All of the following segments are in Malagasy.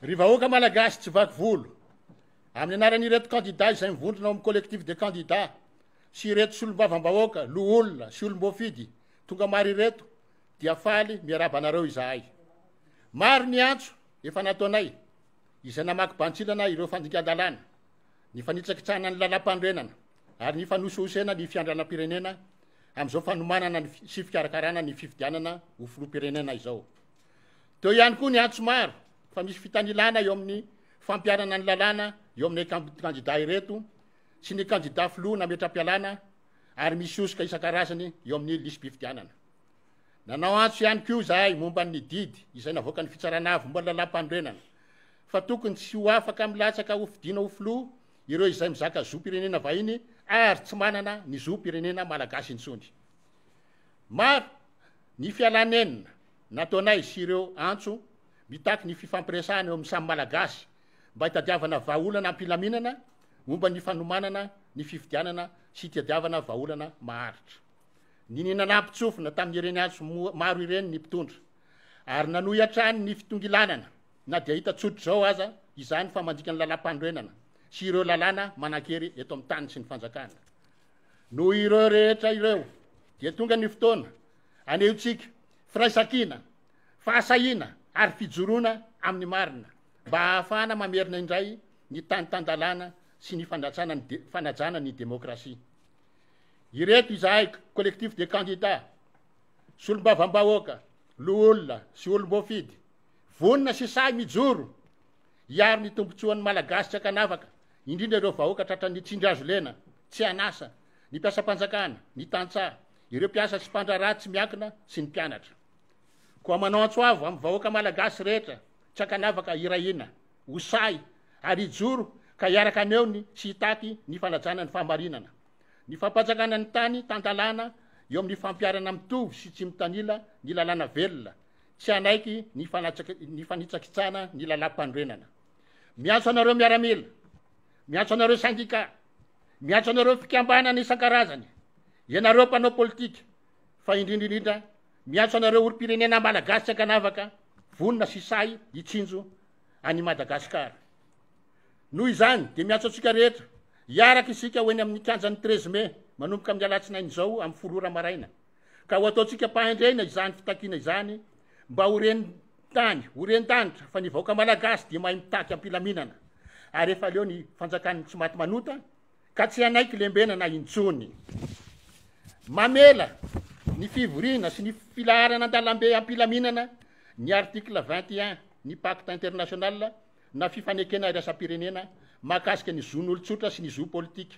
Ry vahoaka malagasy tsy vaky volo, amin'ny anaran'ireto kandidà izay mivondrona ao amin'ny collectif des candidats sy ireto solombavambahoaka, loholona sy olom-boafidy tonga maro ireto dia faly miarahaba anareo izahay. Maro ny antso efa nataonay izay namaky bantsilana ireo fandikan-dalàna, ny fanitsakitsahana ny lalàmpanorenana, ary ny hifanosohosena ny fiandrianam-pirenena amin'izao fanomanana ny sy fikarakarana ny fifidianana ho filoham-pirenena izao. Teo ihany koa ny antso maro fa misy fitanilana eo amin'ny fampiarana ny lalàna eo amin'ny kandidà ireto sy ny kandidà filoha nametram-pialana ary misy hosoka isan-karazany eo amin'ny lisi-pifidianana. Nanao antso ihany koa izahay momba ny didy izay navoakan'ny fitsarana avy momba ny lalàmpanorenana fa tokony tsy ho afaka milatsaka ho fidina ho filoha Ireo izay mizaka zom-pirenena vahiny ary tsy manana ny zom-pirenena malagasy intsony. Maro ny fialanenina nataonay sy ireo antso mitaky ny fifampiresahana eo amin'ny samy Malagasy mba hitadiavana vahaolana am-pilaminana momba ny fanomanana ny fifidianana sy hitadiavana vahaolana maharitra. Niniana nampitsofina tamin'ireny antso maro ireny ny mpitondra ary nanohy hatrany ny fitongilanana. na dia hita tsotra izao aza izany fa mandika ny lalam-panorenana sy ireo lalàna manan-kery eto amin'ny tany sy ny fanjakana. Noho ireo rehetra ireo, dia tonga ny fotoana anehontsika firaisankina, fahasahiana ary fijoroana amin'ny marina mba hahafahana mamerina indray ny tany tan-dalàna sy ny fanajana ny demokrasia. Ireto izahay Collectif des candidats, solombavambahoaka, loholona sy olom-boafidy, Vonona sy sahy mijoro hiaro ny tombontsoan'ny Malagasy tsy ankanavaka, indrindra ireo vahoaka tratran'ny tsindry hazo lena, tsy an'asa, ny mpiasam-panjakana, ny tantsaha, ireo mpiasa sy mpandraharaha tsy miankina sy ny mpianatra. Koa manao antso avo amin'ny vahoaka Malagasy rehetra tsy ankanavaka hirahina, ho sahy ary hijoro ka hiaraka haneony sy hitaky ny fanajana ny fahamarinana, ny fampanjakana ny tany tan-dalàna eo amin'ny fampiharana mitovy sy tsy mitanila ny lalàna velona, tsy hanaiky ny ny fanitsakitsana ny lalam-panorenana. Miantso anareo miaramila, miantso anareo sendika, miantso anareo fikambanana isan-karazany, ianareo mpanao politika, fa indrindra indrindra miantso anareo olom-pirenena malagasy tsy ankanavaka, vonona sy sahy hitsinjo an'i Madagasikara. Noho izany, dia miantso antsika rehetra, hiaraka isika ho eny amin'ny kianjan'ny 13 mai, manomboka amin'ny alatsinainy izao amin'ny folo ora maraina. ka ho ataontsika ampahendrena izany fitakiana izany mba ho ren tany ho ren danitra fa ny vahoaka malagasy dia mahay mitaky ampilaminana ary efa leo ny fanjakan'ny tsy maty manota ka tsy hanaiky lembenana intsony mamela ny fivoriana sy ny filaharana an-dalambe ampilaminana ny article 21 ny pacte international na fifanekena iraisam-pirenena mahakasika ny zon'olon-tsotra sy ny zo politika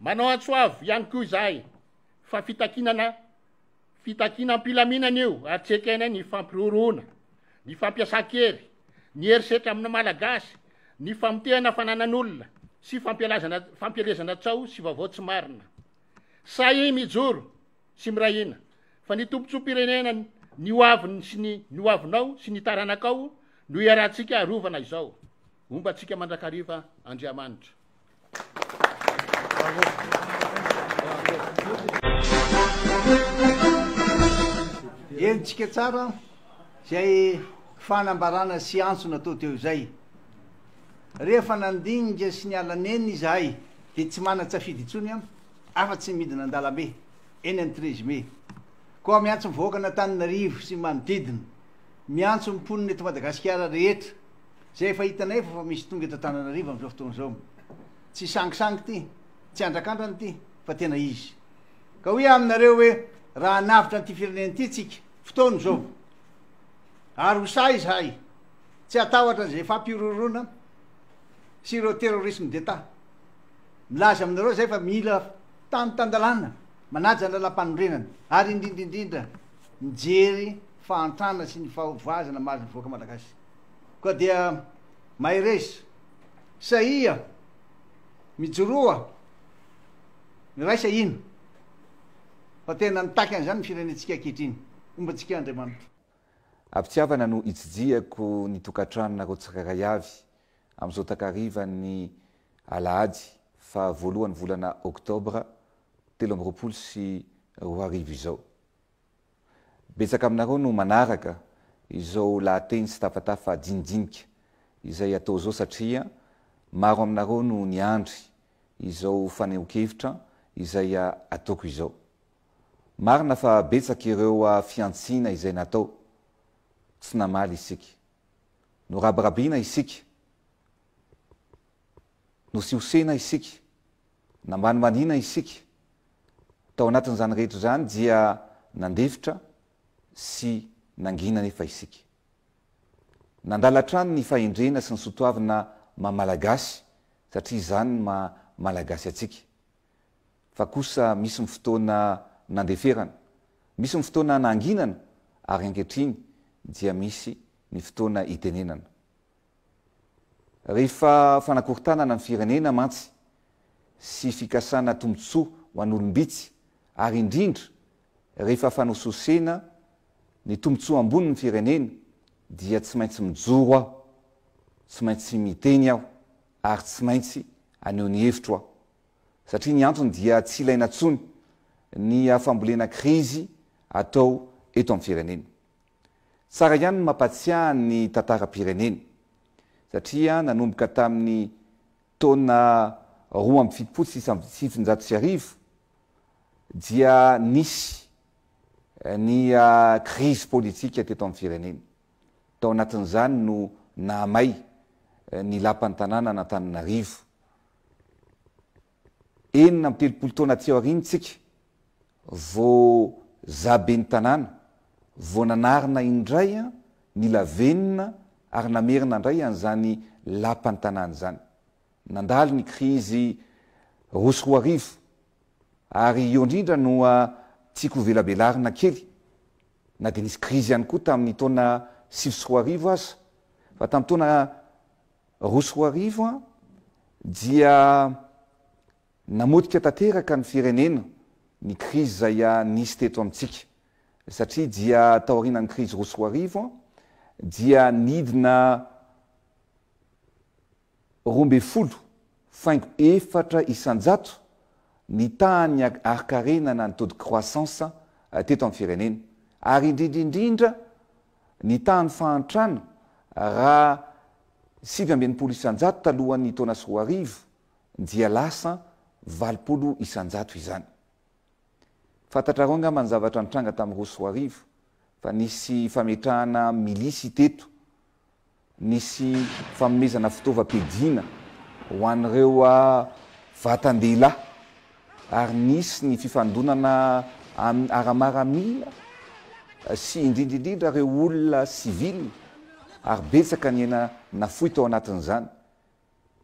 Manao antso avo ihany koa izahay fa fitakinana fitakinam-pilaminana io ary tsy ekena ny fampiroroana, ny fampiasan-kery, ny herisetra amin'ny Malagasy, ny famotehana fananan'olona sy fampialazana fampielezana tsaho sy vaovao tsy marina. Sahia mijoro sy miray hina fa ny tombontsoam-pirenena ny ho aviny sy ny ny ho avinao sy ny taranakao no iarahantsika arovana izao. Homba antsika mandrakariva Andriamanitra. Henontsika tsara izay fanambarana sy antso natao teo izay. Rehefa nandinika sy niala neny izahay dia tsy manan-tsafidy intsony an, afa-tsy ny midina an-dalambe eny amin'ny treize mai. Koa miantso ny vahoakan'Antananarivo sy ny manodidina, miantso ny mponina eto Madagasikara rehetra, Zay efa hitanay efa fa misy tonga eto Antananarivo amin'izao fotoana izao. Tsy sangisangy ity, tsy andrakandrana ity fa tena izy. Ka hoy aho aminareo hoe raha hanavotra an'ity firenena ity tsika, fotoana izao. Ary ho sahy izahay tsy hatahotra an'izay fampihorohoroana sy ireo terrorisme d'Etat. Milaza aminareo zay fa mila tany tan-dalàna, manaja ny lalampanorenana ary indrindra indrindra mijery fahantrana sy ny fahavoazana mahazo ny vahoaka Malagasy. Koa dia mahereza. Sahia. Mijoroa. Miraisa hino. Fa tena mitaky an'izany ny firenentsika ankehitriny. Homba antsika Andriamanitra. Am-pitiavana no itsidihako ny tokantranonareo tsirairay avy amin'izao takarivan'ny alahady faha voalohan'ny volana oktobra telo amby roapolo sy roa arivo izao. Betsaka aminareo no manaraka izao lahateny sy tafatafa jinijinika izay atao izao satria maro aminareo no niandry izao fanehoan-kevitra izay ataoko izao. Marina fa betsaka ireo fihantsiana izay natao, tsy namaly isika. Norabirabiana isika, nosihosena isika, nambanimbanina isika, Tao anatin'izany rehetra izany dia nandefitra sy nangina anefa isika. Nandala hatrany ny fahendrena sy ny soatoavina maha Malagasy satria izany no maha Malagasy antsika. Fa kosa misy ny fotoana nandeferana, misy ny fotoana nanginana ary ankehitriny dia misy ny fotoana itenenana. Rehefa fanakorontanana ny firenena mantsy sy fikasana tombotsoa ho an'olom-bitsy ary indrindra rehefa fanosihosena ny tombotsoa ambonin'ny firenena dia tsy maintsy mijoro aho, tsy maintsy miteny aho ary tsy maintsy aneho ny hevitro aho. Satria ny antony dia tsy ilaina intsony ny fambolena krizy atao eto amin'ny firenena. Tsara ihany ny mampatsiahy ny tantaram-pireneny, satria nanomboka tamin'ny taona roa amby fitopolo sy sivinjato sy arivo dia nisy ny krizy politika teto amin'ny firenena. Tao anatin'izany no nahamay ny lapan'ny tanànan'Antananarivo. enina amby telopolo taona aty aoriana isika vao za ben'ny tanàna, vao nanarina indray ny lavenona ary namerina indray an'izany lapan'ny tanàna izany. Nandalo ny krizy roa sy roa arivo ary eo indrindra no tiako hovelabelarina kely, na dia nisy krizy ihany koa tamin'ny taona sivy sy roa arivo aza, fa tamin'ny taona roa sy roa arivo dia namotika tanteraka ny firenena ny krizy izay nisy teto amintsika satria dia taorianan'ny krizy roa sy roa arivo dia nidina roa ambin'ny folo faingo efatra isan-jato ny tahan'ny harkarena na ny taux de croissance teto amin'ny firenena ary indrindra indrindra Nitaha ny fahantrana raha sivy amby enimpolo isan-jato talohan'ny taona sy roa arivo dia lasa valopolo isan-jato izany. Fantatrareo angamba ny zavatra nitranga tamin'ny roa sy roa arivo fa nisy fametrahana milisy teto Nisy fanomezana fitaovam-piadiana ho an'ireo vatan-dehilahy ary nisy ny fifandonana amin'ny ara-maramila sy indrindra indrindra ireo olona sivily ary betsaka ny aina nafoy tao anatin'izany.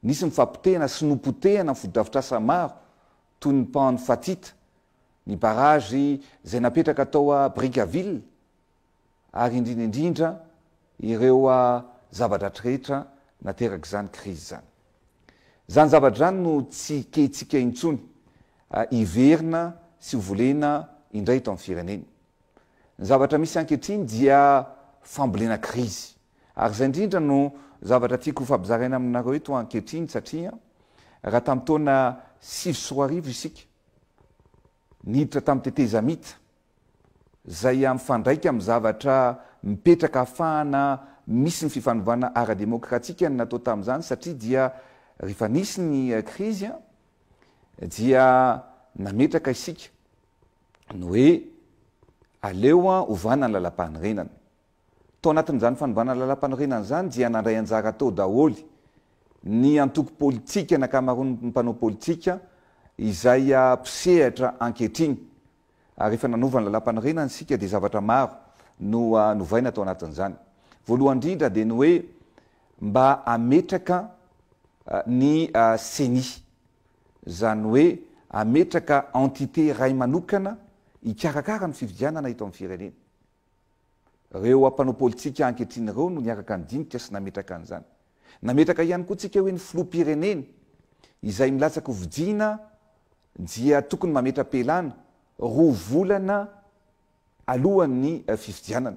Nisy ny fapotehana sy nopotehana ny fotodrafitrasa maro toy ny pan-fatita, ny barazy izay napetraka tao Brickaville, ary indrindra indrindra ireo zava-dratsy rehetra naterak'izany krizy izany. Izany zavatra izany no tsy keitsika intsony hiverina sy ho volena indray eto amin'ny firenena. Ny zavatra misy ankehitriny dia fambolena krizy. Ary izay indrindra no zavatra tiako hofampizaraina aminareo eto ankehitriny satria raha tamin'ny taona sivy sy roa arivo isika, niditra tamin'ny tetezamita, izay mifandraika amin'ny zavatra mipetraka hahafahana misy ny fifanovana ara-demokratika ny natao tamin'izany satria dia rehefa nisy ny krizy dia nametraka isika ny hoe aleo ovana ny lalam-panorenana. Tao anatin'izany fanovana lalam-panorenana izany dia nandray anjara tao daholo ny antoko politika, ny ankamaroan'ny mpanao politika izay mpisehatra ankehitriny. Ary rehefa nanova ny lalam-panorenana isika dia zavatra maro no novaina tao anatin'izany. Voalohany indrindra dia ny hoe mba hametraka ny ceni, izany hoe hametraka entité iray manokana hikarakara ny fifidianana eto amin'ny firenena. Ireo mpanao politika ankehitriny ireo no niaraka nidinika sy nametraka an'izany. Nametraka ihany koa tsika hoe ny filoham-pirenena izay milatsaka ho vidiana dia tokony mametra-pialana roa volana alohan'ny fifidianana.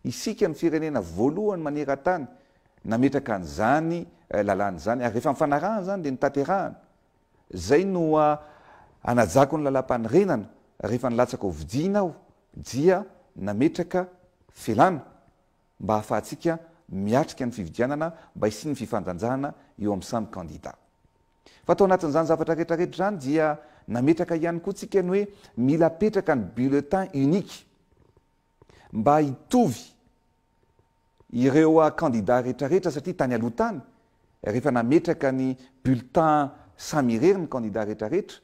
Isika no firenena voalohany maneran-tany nametraka an'izany lalàna izany ary rehefa nifanarahana izany dia notanterahana. Izay no hanajako ny lalàmpanorenana rehefa nilatsaka ho vidiana aho dia nametraka felana mba hahafahantsika miatrika ny fifidianana mba hisian'ny fifandanjana eo amin'ny samy kandida. Fa tao anatin'izany zavatra rehetrarehetra izany dia nametraka ihany koa tsika ny hoe mila apetraka ny bulletin unique mba hitovy ireo kandida rehetrarehetra satria tany aloha tany rehefa nametraka ny bulletin samy irery ny kandida rehetrarehetra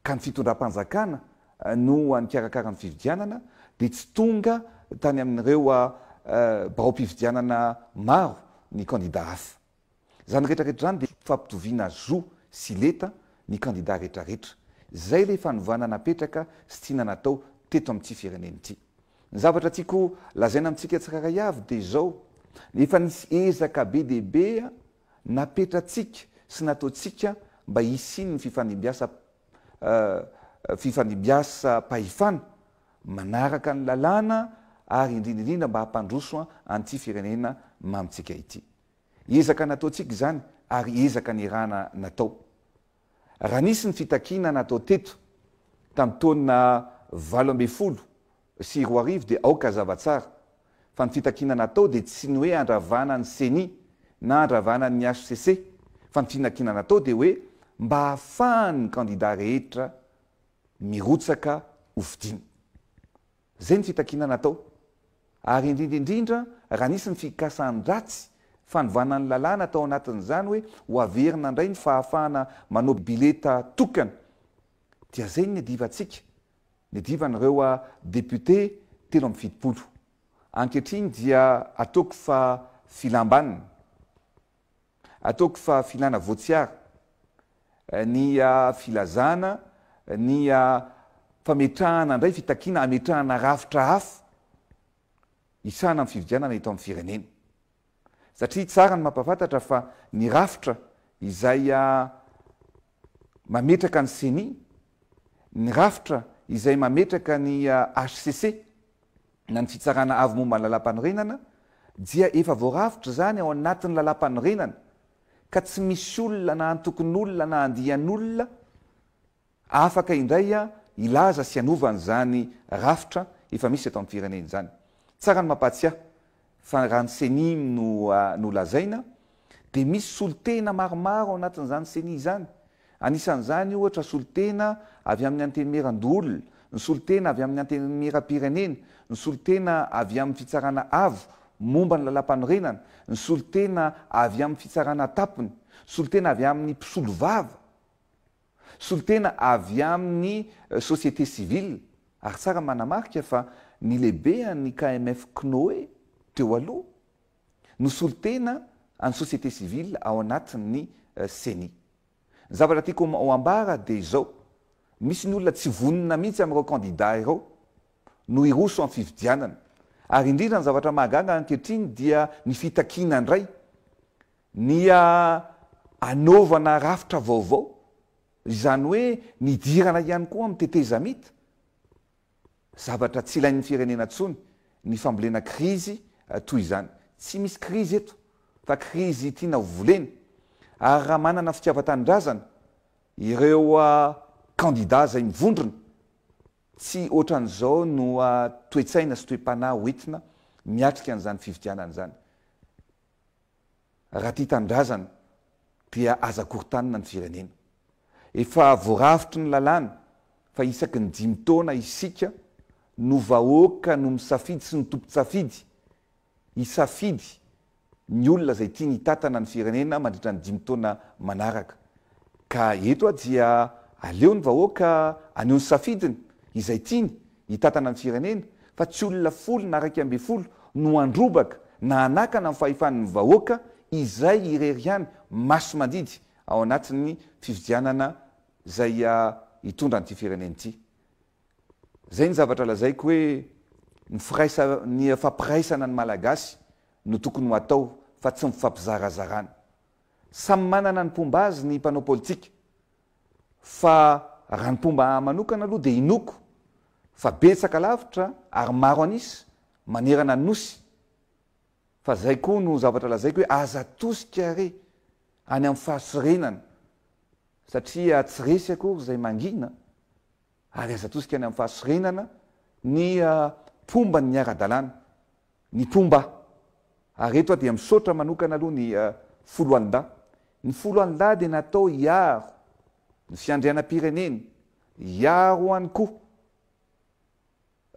ka ny fitondram-panjakana no nikarakara ny fifidianana dia tsy tonga tany amin'ireo biraom-pifidianana maro ny kandida hafa. Izany rehetra rehetra izany dia fampitoviana zo sy leta ny kandida rehetra rehetra. Izay ilay fanovana napetraka sy tiana natao teto amin'ity firenena ity. Ny zavatra tiako lazaina amintsika tsirairay avy dia izao, efa nisy ezaka be dia be napetratsika sy nataontsika mba hisian'ny fifandimbiasa fifandimbiasam-pahefana manaraka ny lalàna ary indrindra indrindra mba hampandroso an'ity firenena mamintsika ity. Ezaka nataontsika izany ary ezaka nirahana natao. Raha nisy ny fitakiana natao teto tamin'ny taona valo ambin'ny folo sy roa arivo dia aoka hazava tsara fa ny fitakiana natao dia tsy ny hoe handravana ny Ceni na handravana ny hcc fa ny finakiana natao dia hoe mba hahafahan'ny kandida rehetra mirotsaka ho fidiana. Izay ny fitakiana natao. Ary indrindra indrindra raha nisy ny fikasan-dratsy, fanovana ny lalàna tao anatin'izany hoe ho averina indray ny fahafahana manao bileta tokana. Dia izay ny niadivantsika, niadivan'ireo député telo amby fitopolo. Ankehitriny dia ataoko fa filam-baniny. Ataoko fa filana voatsiara ny filazana ny fametrahana indray fitakiana hametrahana rafitra hafa hisahana amin'ny fifidianana eto amin'ny firenena. Satria tsara ny mampahafantatra fa ny rafitra izay mametraka ny ceni, ny rafitra izay mametraka ny hcc, na ny Fitsarana Avo momba ny Lalàmpanorenana dia efa voarafitra izany ao anatin'ny Lalàmpanorenana ka tsy misy olona na antokon'olona na andian'olona afaka indray hilaza sy hanova an'izany rafitra efa misy eto amin'ny firenena izany. Tsara ny mampahatsiahy Fa raha ny ceni no no lazaina dia misy solontena maromaro ao anatin'izany ceni izany. Anisan'izany ohatra solontena avy amin'ny antenimieran-doholona, ny solontena avy amin'ny antenimieram-pirenena, ny solontena avy amin'ny fitsarana avo momba ny lalàmpanorenana, ny solontena avy amin'ny fitsarana an-tampony, solontena avy amin'ny mpisolovava. Solontena avy amin'ny société civile ary tsara manamarika fa ny lehibean'ny KMF Cnoe teo aloha no solontena an'ny société civile ao anatin'ny Ceni. Ny zavatra tiako ho ambara dia izao, misy ny olona tsy vonona mihitsy amin'ireo kandida ireo no hiroso amin'ny fifidianana ary indrindra ny zavatra mahagaga ankehitriny dia ny fitakiana indray Ny hanaovana rafitra vaovao, izany hoe ny hidirana ihany koa amin'ny tetezamita, zavatra tsy ilain'ny firenena intsony ny fambolena krizy toy izany. Tsy misy krizy eto fa krizy tiana ho volena ary raha manana fitiavan-tanindrazana ireo kandida izay mivondrona, tsy ohatran'izao no toe-tsaina sy toe-panahy hoentina miatrika an'izany fifidianana izany. Raha tia tanindrazana dia aza korontanina ny firenena. Efa voarafitry ny lalàna fa isaky ny dimy taona isika no vahoaka no misafidy sy ny tompon-tsafidy hisafidy ny olona izay tiany hitantana ny firenena mandritra ny dimy taona manaraka. Ka eto dia aleo ny vahoaka aneho ny safidiny izay tiany hitantana ny firenena fa tsy olona folo na raika ambin'ny folo no handrobaka na hanakana ny fahefan'ny vahoaka izay irery ihany masi-mandidy ao anatin'ny fifidianana izay hitondra an'ity firenena ity. Izay ny zavatra lazaiko hoe ny firaisa ny fampiraisana ny Malagasy no tokony ho atao fa tsy ny fifampizarazarana. Samy manana ny mpomba azy ny mpanao politika. Fa raha ny mpomba ahy manokana aloha dia inoako fa betsaka lavitra ary maro an'isa manerana ny Nosy. Fa izay koa no zavatra lazaiko hoe aza atosika re any amin'ny fahasirenana satria tsy resy akory izay mangina ary aza atosika any amin'ny fahasorenana ny mpomba ny miara-dalàna, ny mpomba. Ary eto aho dia misaotra manokana aloha ny Foloalindahy. Ny Foloalindahy dia natao hiaro ny fiandrianam-pirenena, hiaro ihany koa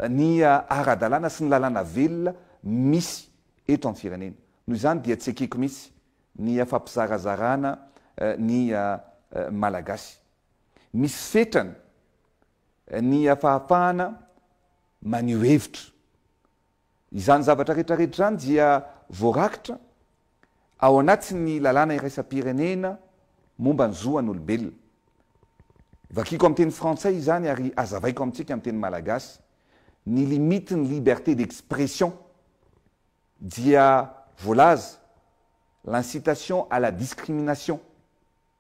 ny ara-dalàna sy ny lalàna velona misy eto amin'ny firenena. Noho izany dia tsy ekeko mihitsy ny fampizarazarana ny Malagasy. misy fetrany ny hafahafahana maneho hevitra. Izany zavatra retraretra izany dia voarakitra ao anatin'ny lalàna iraisam-pirenena momba ny zo an'olombelona. Vakiko amin'ny teny frantsay izany ary azavaiko amintsika amin'ny teny malagasy. Ny limitin'ny liberté d'expression dia voalaza, l'incitation à la discrimination,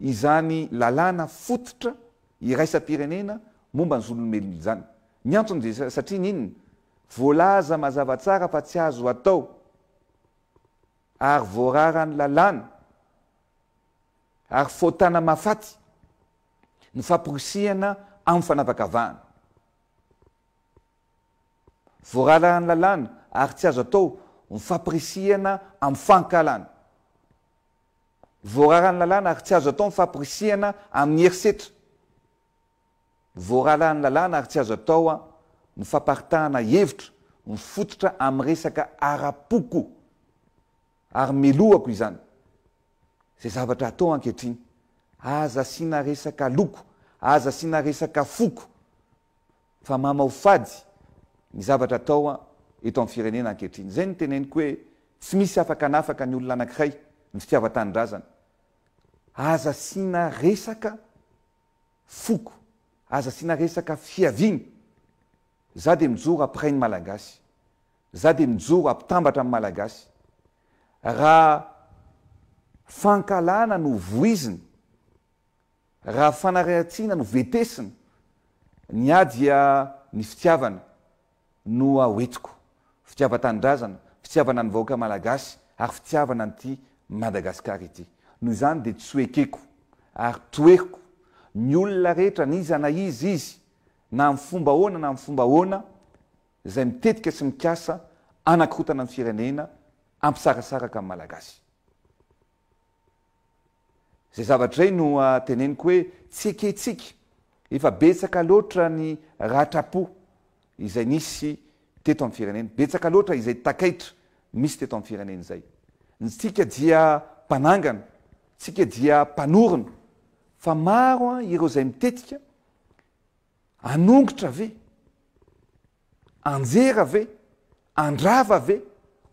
izany lalàna fototra iraisam-pirenena momba ny zon'olombelona izany. Ny antony dia satria ny inona? Voalaza mazava tsara fa tsy azo atao ary voararan'ny lalàna ary fahotana mahafaty ny famporisihana amin'ny fanavakavahana. Voararan'ny lalàna ary tsy azo atao ny famporisihana amin'ny fankahalana. Voararan'ny lalàna ary tsy azo atao ny famporisihana amin'ny herisetra. Voaralahan'ny lalàna ary tsy azo atao ny famparitahana hevitra mifototra amin'ny resaka ara-poko ary melohako izany. Izay zavatra atao ankehitriny, aza asiana resaka loko, aza asiana resaka foko fa mamao fady ny zavatra atao eto amin'ny firenena ankehitriny. Izay no teneniko hoe tsy misy afaka hanafaka ny olona anankiray ny fitiavan-tanindrazana. Aza asiana resaka foko, aza asiana resaka fiaviana. Za dia mijoro après ny Malagasy. Za dia mijoro ampitambatra amin'ny Malagasy. Raha fankahalana no voizina Raha fanarahan-tsina no vetesina, ny ahy dia ny fitiavana no a hoentiko. Fitiavan-tanindrazana, fitiavana ny vahoaka malagasy ary fitiavana an'ity Madagasikara ity. Noho izany dia tsy ho ekeko ary toheriko ny olona rehetra n'iza na iza izy na amin'ny fomba ahoana na amin'ny fomba ahoana izay mitetika sy mikasa hanakorotana ny firenena, hampisarasaraka ny Malagasy. Izay zavatra izay no teneniko hoe tsy ekentsika, efa betsaka loatra ny ratram-po izay nisy teto amin'ny firenena, betsaka loatra izay takaitra misy teto amin'ny firenena izay. Ny tsika dia mpanangana, tsika dia mpanorina fa maro ireo izay mitetika, anongotra ve? anjera ve? andrava ve?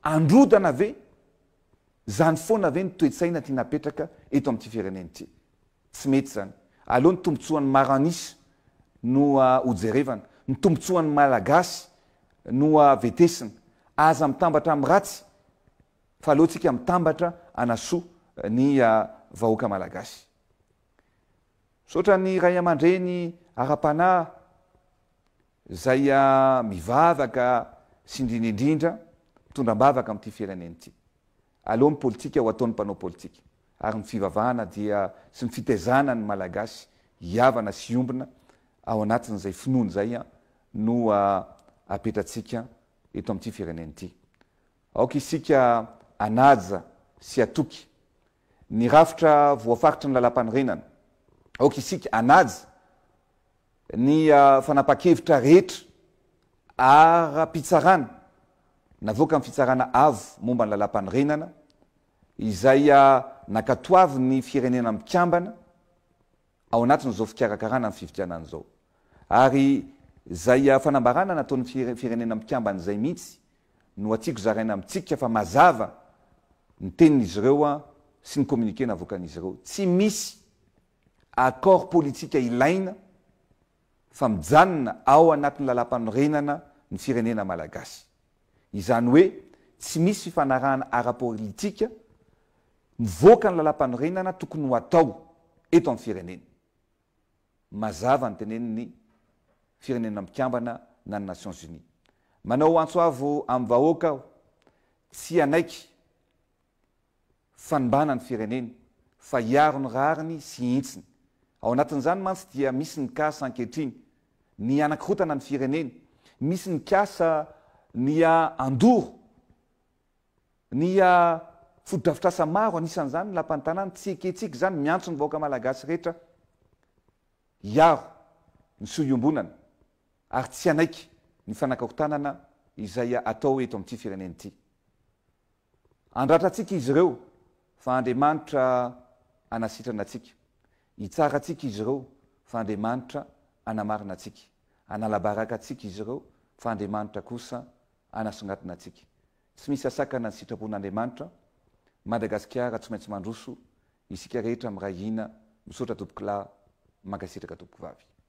androdana ve? Zany foana ve ny toe-tsaina tiana apetraka eto amin'ity firenena ity? Tsy mety zany. Aleo ny tombotsoan'ny maro an'isa no hojerevana, ny tombotsoan'ny Malagasy no vetesina. Aza mitambatra amin'ny ratsy fa aleontsika mitambatra hanasoa ny vahoaka Malagasy. Misaotra ny Raiamandreny ara-panahy. Zay a mivavaka sy indrindra indrindra mitondra ambavaka amin'ity firenena ity aleo ny politika ho ataon'ny mpanao politika ary ny fivavahana dia sy ny fitaizana ny malagasy hiavana sy hiombona ao anatin'izay finoany zay a no apetratsika eto amin'ity firenena ity aoka isika anaja sy atoky ny rafitra voafaritry ny lalam-panorenana aoka isika anaja Ny fanapahan-kevitra rehetra ara-pitsarana navoakan'ny Fitsarana Avo momba ny Lalàmpanorenana, izay nankatoavin'ny Firenena Mikambana ao anatin'izao fikarakarana ny fifidianana izao, ary izay fanambarana nataon'ny Firenena Mikambana izay mihitsy no hatiako zaraina amintsika fa mazava ny tenin'izy ireo sy ny communiqué navoakan'izy ireo. Tsy misy accord politika ilaina fa mijanona ao anatin'ny lalampanorenana ny firenena malagasy. Izany hoe tsy misy fifanarahana ara-politika mivoaka ny lalampanorenana tokony ho atao eto amin'ny firenena. Mazava ny tenenin'ny firenena mpikambana na ny Nations Unies. Manao antso avo amin'ny vahoaka aho, tsy hanaiky, fanimbana ny fireneny fa hiaro ny rariny sy hintsiny. Ao anatin'izany mantsy dia misy ny cas ankehitriny ny hanakirotana ny fireneny, misy ny cas ny handoro ny fotodrafitrasa maro anisan'izany ny lapan'ny tanàna, tsy ekentsika izany, miantso ny vahoaka malagasy rehetra hiaro ny soa iombonana ary tsy hanaiky ny fanakarotanana izay atao eto amin'ity firenena ity. Handratra antsika izy ireo, fa Andriamanitra hanasitrana antsika. Hitsara antsika izy ireo, fa Andriamanitra hanamarina antsika. Hanala-baraka antsika izy ireo, fa Andriamanitra kosa hanasongadina antsika. Tsy misy hasakana ny sitrapon'Andriamanitra. Madagasikara tsy maintsy mandroso, isika rehetra miray hina, misaotra tompokolahy, mankasitraka tompokovavy.